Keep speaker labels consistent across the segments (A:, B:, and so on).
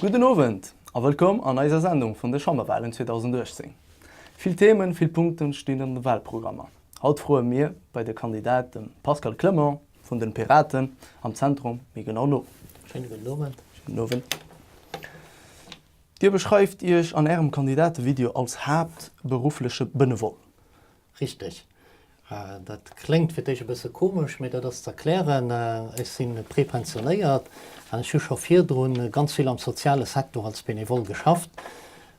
A: Gudden Owend a wëllkomm an eiser Sendung vun de Chamberwalen 2018. Vill Themen, vill Punkten stinn an de Walprogrammer. Haut froe mir bei de Kandidat dem Pascal Clement vun den Piraten am Zentrum méi genau no. Schéine gudden Owend.
B: Gudden Owend.
A: Dir beschreift Iech an ärem Kandidatevideo als haaptberuffleche Benevole. Richteg.
B: Dat kléngt fir d'éischt e bësse komesch, mee dat ass ze erklären, Ech si prepensionéiert an ech hu scho virdru ganz vill am soziale Secteur als Benevole geschafft.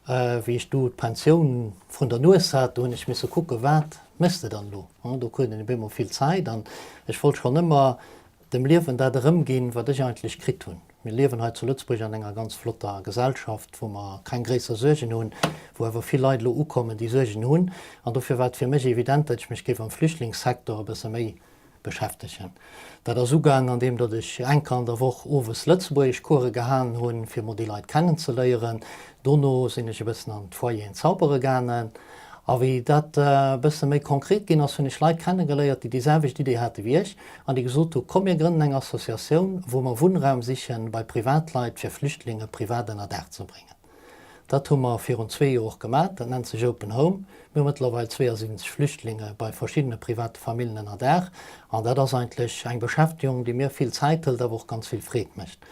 B: Wéi ech do d'Pensioun vrun der Nues hat, do hunn ech misse kucken, wat méchs de dann elo? Do krut een op eemol vill Zäit an ech wollt schonn ëmmer dem Liewen dat erëmginn, wat ech eigentlech kritt hunn. Mir liewen hei zu Lëtzebuerg an enger ganz flotter Gesellschaft, wou mer keng gréisser Suergen hunn, wou awer vill Leit elo ukommen, déi Suergen hunn. An dofir war et fir mech evident, datt ech mech géif am Flüchtlingssektor e bësse méi beschäftegen. Dat ass ugaang, andeem datt ech eng Kéier an der Woch owes Lëtzebuergeschcoursë gehalen hunn, fir emol déi Leit kennenzeléieren, Dono sinn ech e bëssen an d'Foyeren zaubere gaangen, a wéi dat e bësse méi konkret ginn ass, hunn ech Leit kennegeléiert, déi déi selwecht Idee hate wéi ech an déi gesot hu komm mir grënnen eng Associatioun, wou mer Wunnraum siche bei Privatleit, fir Flüchtlinge privat ënnerdaach ze bréngen. Dat hu mer virun zwee Joer och gemaach, dat nennt sech Open Home. Mir hu mëttlerweil 72 Flüchtlinge bei verschiddene private Famillen ënnerdaach, an dat ass eigentlech eng Beschäftegung, déi mir vill Zäit hëlt, awer och ganz vill Freed mécht.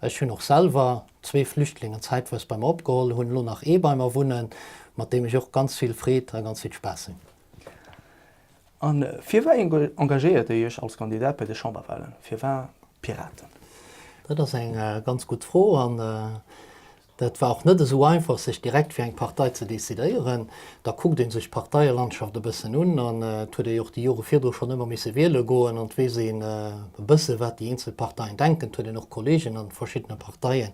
B: Ech hunn och selwer zwee Flüchtlingen zäitweis bei mer opgeholl, hunn elo nach ee bei mer wunnen, mat deem ech och ganz vill Freed a ganz vill Spaass hunn. A firwei
A: engagéiert Dir Iech als Kandidat bei de Chamberwahlen? Firwar d'Piraten? Dat
B: ass eng ganz gutt Fro. Et war och net esou einfach, sech direkt fir eng Partei ze decidéieren. Da kuckt ee sech d'Parteielandschaft e bëssen un an et huet ee och déi Jore virdru schonn ëmmer misse wiele goen. An et weess een e bësse wat déi eenzel Parteien denken. Et huet een och Kolleegen a verschiddene Parteien.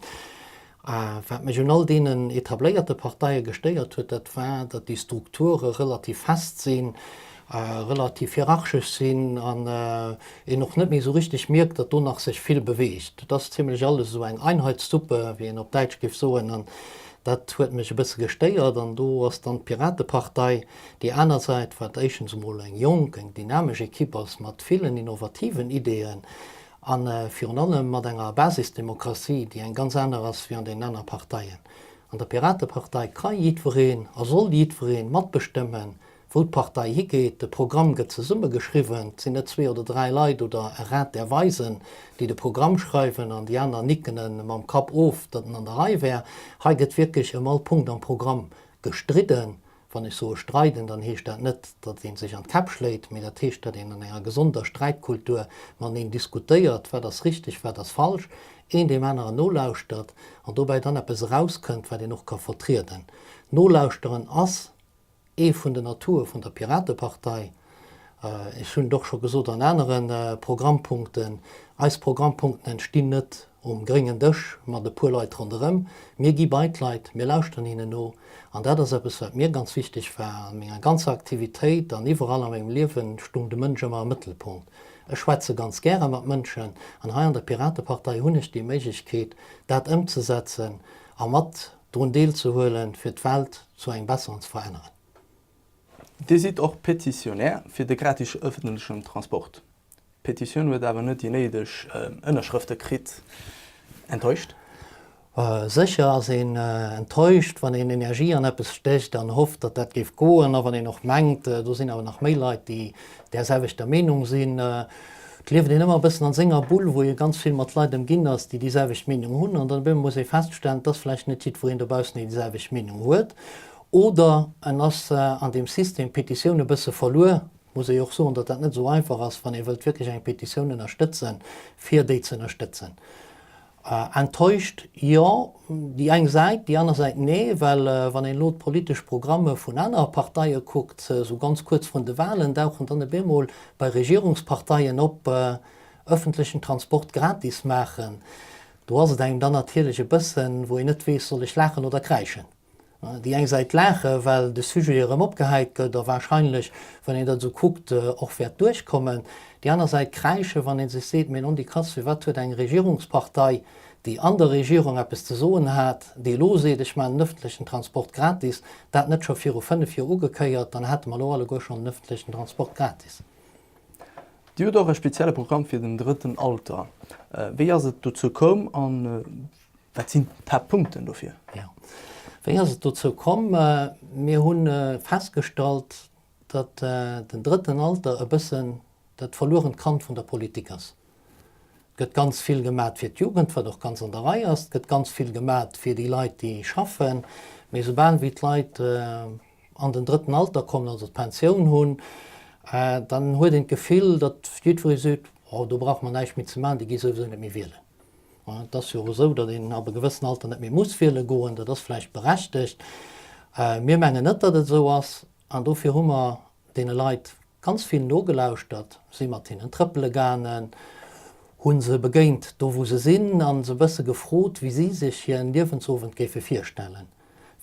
B: A wat mech un all deenen etabléierte Parteie gestéiert huet, dat war, datt déi Strukture relativ fest sinn. relativ hierarchesch sinn an een och net méi esou richteg mierkt, datt do nach sech vill beweegt. Et ass zimlech alles esou eng Einheitssuppe, wéi een op Däitsch géif soen, an dat huet mech e bësse gestéiert. An do ass dann d'Piratepartei déi aner Säit, wat éischtens emol eng jonk, eng dynamesch Ekipp ass mat villen innovativen Ideeën a virun allem mat enger Basisdemokratie, déi eng ganz aner ass wéi an deenen aner Parteien. An der Piratepartei ka jiddwereen a soll jiddweree matbestëmmen, Wou d'Partei higeet, de Programm gëtt zesumme geschriwwen, 't sinn net zwee oder dräi Leit oder e Rat där Weisen, déi de Programm schreiwen an déi aner nicken e mam Kapp of, datt en an der Rei wär. Hei gëtt wierklech ëm all Punkt am Programm gestridden. Wann ech soe streiden, dann heescht dat net, datt ee sech an d'Käpp schléit, mee dat heescht, datt een an enger gesonder Sträitkultur mateneen diskutéiert, wat ass richteg, wat ass falsch, een deem aneren nolauschtert an dobäi dann eppes erauskënnt, wat een och ka vertrieden. Nolauschteren ass. Ee vun den Atoue vun der Piratepartei, ech hunn et och scho gesot an anere Programmpunkten, eis Programmpunkten entstinn net um gréngen Dësch mat e puer Leit ronderëm. Mir gi bei d'Leit, mir lauschteren hinnen no. An dat ass eppes, wat mir ganz wichteg war a menger ganzer Aktivitéit an iwwerall a mengem Liewen stung de Mënsch ëmmer am Mëttelpunkt. Ech schwätze ganz gäre mat Mënschen an hei an der Piratepartei hunn ech déi Méiglechkeet, dat ëmzesetzen a mat drun deelzehuelen fir d'Welt zu engem besseren ze veränneren.
A: Dir sidd och Petitionär fir de gratis ëffentlechen Transport. D'Petitioun huet awer net déi néideg Ënnerschrëfte kritt. Enttäuscht?
B: Sécher ass een enttäuscht, wann een Energie an eppes stécht an hofft, datt dat géif goen, a wann een och mengt, do sinn awer nach méi Leit, déi där selwechter Meenung sinn. Et lieft een ëmmer e bëssen a senger Bull, wou ee ganz vill mat Leit ëmginn ass, déi déi selwecht Meenung hunn, an dann op eemol muss ee feststellen, et ass vläicht net jiddwereen dobaussen, deen déi selwecht Meenung huet, oder en ass an deem System Petitioun e bësse verluer. Et muss ee jo och soen, datt dat net esou einfach ass, wann ee wëllt wierklech eng Petitioun ënnerstëtzen, fir déi ze ënnerstëtzen. Enttäuscht, jo, déi eng Säit, déi aner Säit, nee. Well wann een elo d'politesch Programme vun anere Parteie kuckt, esou ganz kuerz vrun de Wahlen dauchen dann e bemol bei Regierungsparteien op, öffentlechen Transport gratis maachen. Do ass et engem dann natierlech e bëssen, wou een net weess, soll ech laachen oder kräischen? Déi eng Säit laache well de Sujet erëm opgehäit gëtt a wahrscheinlech, wann een dat esou kuckt, och wäert duerchkommen. Déi aner Säit kräische wann ee sech seet, mee non di Katze, wat huet eng Regierungspartei, déi an der Regierung eppes ze soen hat, déi elo seet, ech maachen den ëffentlechen Transport gratis, dat net scho viru 5 Joer ugekéiert, dann hätte mer elo alleguer schonn den ëffentlechen Transport gratis.
A: Dir hutt och e spezielle Programm fir den drëtten Alter. Wéi ass et dozou komm? Wat sinn d'Haaptpunkten dofir? Jo,
B: wéi ass et dozou komm? Mir hu festgestallt, datt den drëtten Alter e bëssen dat verluerent Kand vun der Politik ass. Et gëtt ganz vill gemat fir d'Jugend, wat och ganz an der Rei ass. Et gëtt ganz vill gemat fir déi Leit, déi schaffen. Mee esoubal wéi d'Leit an den drëtten Alter kommen, also d'Pensioun hunn, dann huet een d'Gefill, datt jiddweree seet, oh do brauche mer näischt méi ze maachen, déi gi souwisou net méi wielen. Et ass jo esou, datt een ab e gewëssen Alter net méi muss wiele goen. Dat ass vläicht berechtegt. Mir mengen net, datt et esou ass. An dofir hu mer deene Leit ganz vill nogelauschtert, si mat hinnen trëppele gaangen, hu se begéint do, wou se sinn a se e bësse gefrot, wéi si sech hir Liewensowend géife virstellen.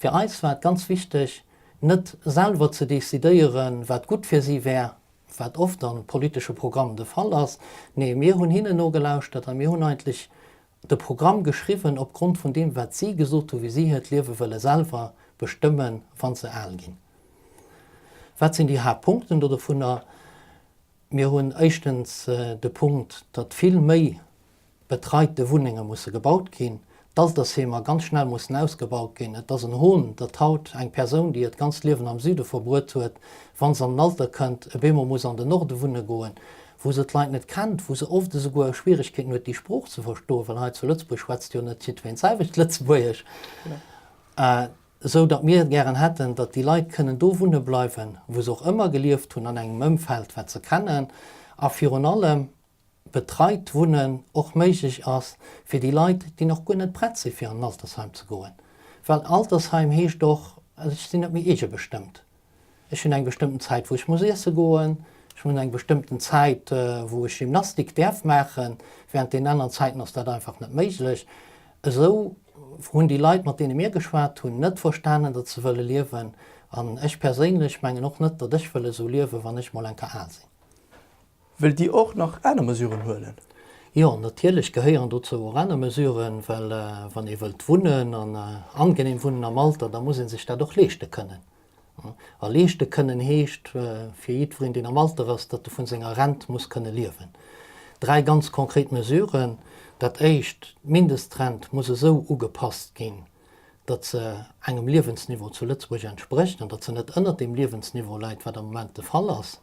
B: Fir eis war et ganz wichteg, net selwer ze decidéieren, wat gutt fir si wär, wat oft am politesche Programm de Fall ass, nee, mir hunn hinnen nogelauschtert a mir hunn eigentlech de Programm geschriwwen op Grond vun deem, wat si gesot hu wéi si hiert Liewe wëlle selwer bestëmme wa se al ginn. Wat sinn déi Haaptpunkten do dovunner? Mir hunn éischtens de Punkt, datt vill méi betreite Wunnenge musse gebaut ginn, d'Altersheemer ganz schnell mussen ausgebaut ginn. Et ass en Hohn, datt haut eng Persoun, déi hiert ganzt Liewen am Süde verbruet huet, wa se an den Alter kënnt, e bemol muss an den Norde wunne goen, wou se d'Leit net kennt, wou se oft esouguer Schwierigkeeten huet, déi Sprooch ze verstoen, well hei zu Lëtzebuerg schwätzt jo net jiddween d'selwecht Lëtzebuergesch, esou datt mir gären hätten, datt déi Leit kënnen do wunne bleiwen, wou se och ëmmer gelieft hunn, an engem Ëmfeld, wat se kennen a virun allem, betreit Wunnen och méiglech ass fir déi Leit, déi nach guer net prett si fir an en Altersheim ze goen. Well Altersheim heescht och, ech sinn net méi eegebestëmmt. Ech hunn eng bestëmmten Zäit, wou ech muss iesse goen, ech hunn eng bestëmmten Zäit, wou ech Gymnastik däerf maachen, wärend deenen aneren Zäiten ass dat einfach net méiglech. Esou hunn déi Leit, mat deene mir geschwat hunn, net verstanen, datt se wëlle liewen. An ech perséinlech mengen och net, datt ech wëll esou liewen, wann ech mol enker al sinn. Wëllt
A: Dir och nach aner Mesuren huelen? Jo, natierlech
B: gehéieren dozou och aner Mesuren, well wann ee wëllt wunnen an angeneem wunnen am Alter, da muss ee sech dat och leeschte kënnen. A leeschte kënnen heescht fir jiddwereen, deen am Alter ass, datt e vu senger Rent muss kënne liewen. Dräi ganz konkret Mesuren, Dat Éischt, d'Mindestrent muss esou ugepasst ginn, datt se engem Liewensniveau zu Lëtzebuerg entsprécht an datt se net ënnert deem Liewensniveau läit, wat am Moment de Fall ass.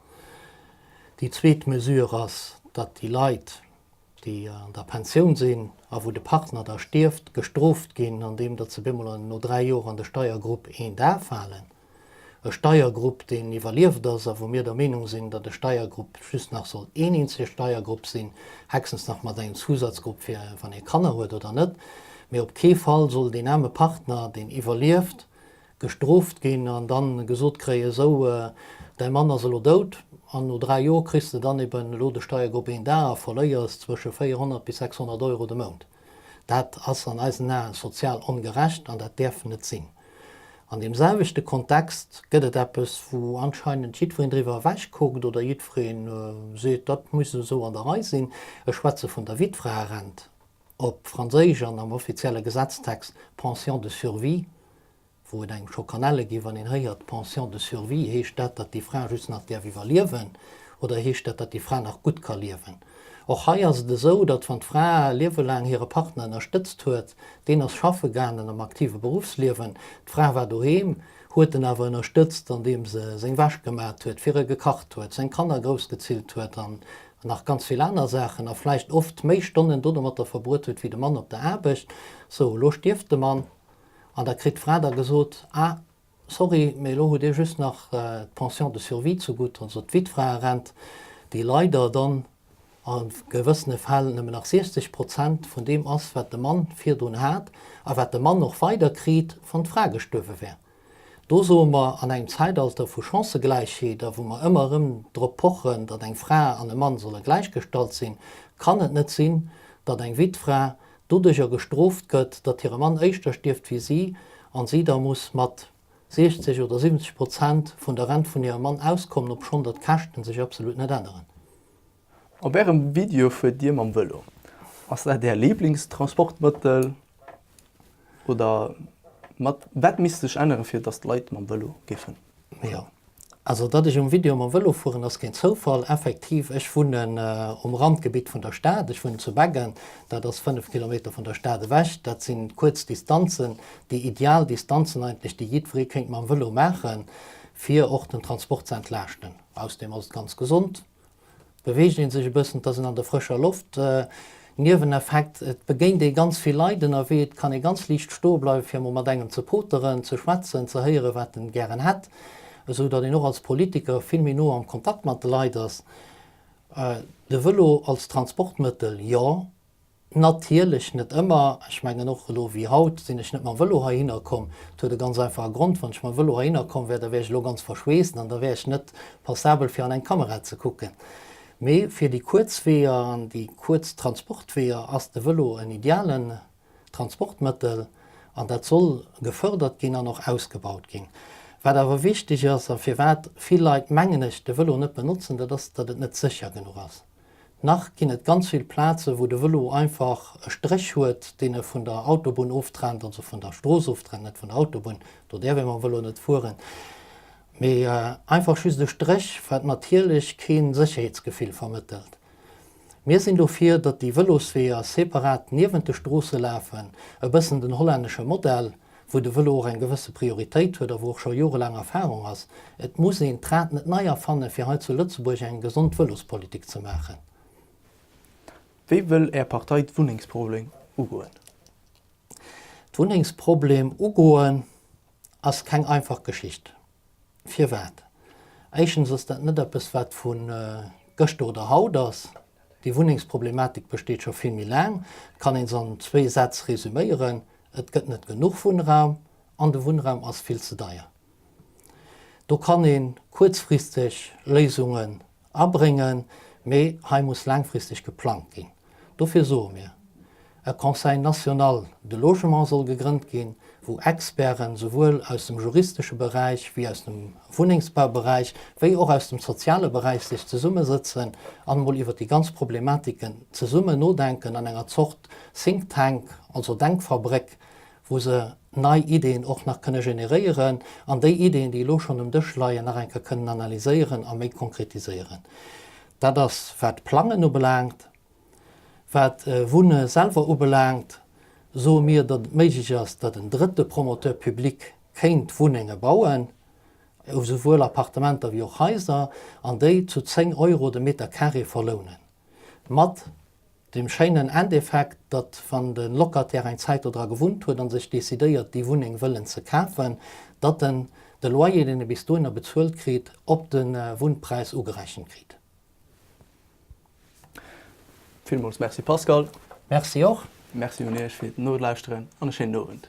B: Déi zweet Mesure ass, datt déi Leit, déi an der Pensioun sinn a wou de Partner da stierft, gestrooft ginn, andeem datt se bemol no dräi Joer an de Steiergrupp I da falen. E Steiergrupp, deen iwwerlieft ass a wou mir der Meenung sinn, datt e Steiergrupp just nach soll een eenzege Steiergrupp sinn, hechstens nach mat engem Zusatzgrupp fir wann ee Kanner huet oder net, mee op kee Fall soll deen aarme Partner, deen iwwerlieft, gestrooft ginn an da gesot kréien, esou däi Mann ass elo dout an no dräi Joer kriss de dann eben elo de Steiergrupp 1 A a verléiers zwësche 400 bis 600 Euro de Mount. Dat ass an eisen Ae sozial ongerecht an dat däerf net sinn. An deem selwechte Kontext gëtt et eppes, wou anscheinend jiddwereen driwwer ewechkuckt oder jiddweree seet, dat muss esou an der Rei sinn, ech schwätze vun der Wittfraerent, op Franséisch an am offizielle Gesetztext Pension de survie, wou et engem scho kann helle ginn, wann een héiert Pension de survie, heescht dat, datt déi Fra just nach däerf iwwerliewen oder heescht dat, datt déi Fra nach gutt ka liewen? Och hei ass et esou, datt wann d'Fra liewelaang hire Partner ënnerstëtzt huet, deen ass schaffe gaangen am aktive Beruffsliewen, d'Fra war doheem, huet en awer ënnerstëtzt andeem se seng Wäsch gemat huet, fir e gekacht huet, seng Kanner groussgezillt huet an nach ganz vill aner Saachen a vläicht oft méi Stonnen dodomatter verbruet huet wéi de Mann op der Aarbecht. Sou, elo stierft de Mann An da kritt d'Fra da gesot, Ah, sorry, mee elo hutt Dir just nach d'Pension de survie zegutt, also d'Witfraerent, déi leider dann a gewëssene Fäll nëmmen nach 60 Prozent vun deem ass, wat de Mann virdrun hat a wat de Mann och weiderkritt, wann d'Fra gestuerwe wär. Do soe mer, an engem Zäitalter vu Chancëgläichheet a wou mer ëmmer erëm drop pochen, datt eng Fra an e Mann solle gläichgestallt sinn, kann et net sinn, datt eng Witfra doduercher gestrooft gëtt, datt hire Mann éischter stierft wéi si a si da muss mat 60 oder 70 Prozent vun der Rent vun hirem Mann auskommen, obschonn datt d'Käschten sech absolut net änneren. Op
A: Ärem Video fuert Dir mam Vëlo. Ass dat Är Liblingstransportmëttel oder wat misst sech änneren,
B: fir
A: datt d'Leit mam Vëlo géifen Jo, also
B: datt ech um Video mam Vëlo fueren ass keen Zoufall. Effektiv, ech wunnen um Randgebitt vun der Stad. Ech wunnen zu Beggen, dat ass 5 Kilometer vun der Stad ewech. Dat si kuerz Distanzen, déi ideal Distanzen eigentlech, déi jiddweree kéint mam Vëlo maachen, fir och den Transport ze entlaaschten. Ausserdeem ass et ganz gesond. Beweegt een sech e bëssen, et ass een an der frëscher Loft. Nieweneffekt, Et begéint ee ganz vill Leit ënnerwee, et kann ee ganz liicht stoe bleiwen, fir emol mat engem ze poteren, ze schwätzen, ze héieren, wat en gären hätt, esou datt een och als Politiker vill méi no am Kontakt mat de Leit ass. De Vëlo als Transportmëttel, jo. Natierlech net ëmmer. Ech mengen och elo wéi haut sinn ech net mam Vëlo heihinner komm. Dat huet e ganz einfache Grond, wann ech mam Vëlo heihinner komm wär, da wär ech elo ganz verschweessen an da wär ech net passabel fir an eng Kamera ze kucken. Mee fir déi kuerz Weeër an déi kuerz Transportweeër ass de Vëlo en idealen Transportmëttel an dat soll gefërdert ginn an och ausgebaut ginn. Wat awer wichteg ass a firwat vill Leit mengen ech de Vëlo net benotzen, dat ass, datt et net sécher genuch ass. Nach ginn et ganz vill Plazen, wou de Vëlo einfach e Stréch huet, deen e vun der Autobunn oftrennt, also vun der Strooss oftrennt, net vun der Autobunn, do däerf ee mam Vëlo net fueren, mee einfach just e Stréch, wat natierlech kee Sécherheetsgefill vermëttelt. Mir sinn dofir, datt déi Vëlosweeër separat niewent de Stroosse lafen, e bëssen den hollännesche Modell. wou de Vëlo och eng gewësse Prioritéit huet a wou och scho jorelaang Erfahrung ass. Et muss een d'Rad net nei erfanne fir hei zu Lëtzebuerg eng gesond Vëlospolitik ze maachen.
A: Wéi wëll Är Partei d'Wunnengsproblem ugoen?
B: D'Wunnengsproblem ugoen ass keng einfach Geschicht. Firwat? Éischtens ass dat net eppes, wat vu gëschter oder haut ass. Déi Wunnengsproblematik besteet scho vill méi laang. Et kann ee se an zwee Sätz resüméieren, Et gëtt net genuch Wunnraum an de Wunnraum ass vill ze deier. Do kann ee kuerzfristeg Léisunge Abréngen, mee hei muss laangfristeg geplangt ginn. Dofir soe mir, E Conseil national de logement soll gegrënnt ginn, wou Experten souwuel aus dem juristesche Beräich wéi aus dem Wunnengsbauberäich wéi och aus dem soziale Beräich sech zesummesëtzen an emol iwwer déi ganz Problematiken zesummen nodenken an enger Zort Think Tank, also Denkfabréck, wou se nei Ideen och nach kënne generéieren an déi Ideen, déi elo schonn um Dësch leien, nach eng Kéier kënnen analyséieren a méi konkretiséieren. Dat ass, wat d'Plangen ubelaangt. Wat Wunne selwer ubelaangt, soe mir, datt et méiglech ass, datt en drëtte Promoteur public kéint Wunnenge bauen, esouwuel Appartementer wéi och Haiser, an déi zu 10 Euro de Meter carré verlounen. Mat dem schéinen Endeffekt, datt wann de Locataire eng Zäit do dra gewunnt huet a sech decidéiert déi Wunneng wëllen ze kafen, datt en de Loyer deen e bis dohinner bezuelt kritt op de Wunnpräis ugerechent kritt.
A: Villmools Merci Pascal. Merci och. Merci un Iech fir
B: d'Nolauschteren
A: an e schéinen Owend.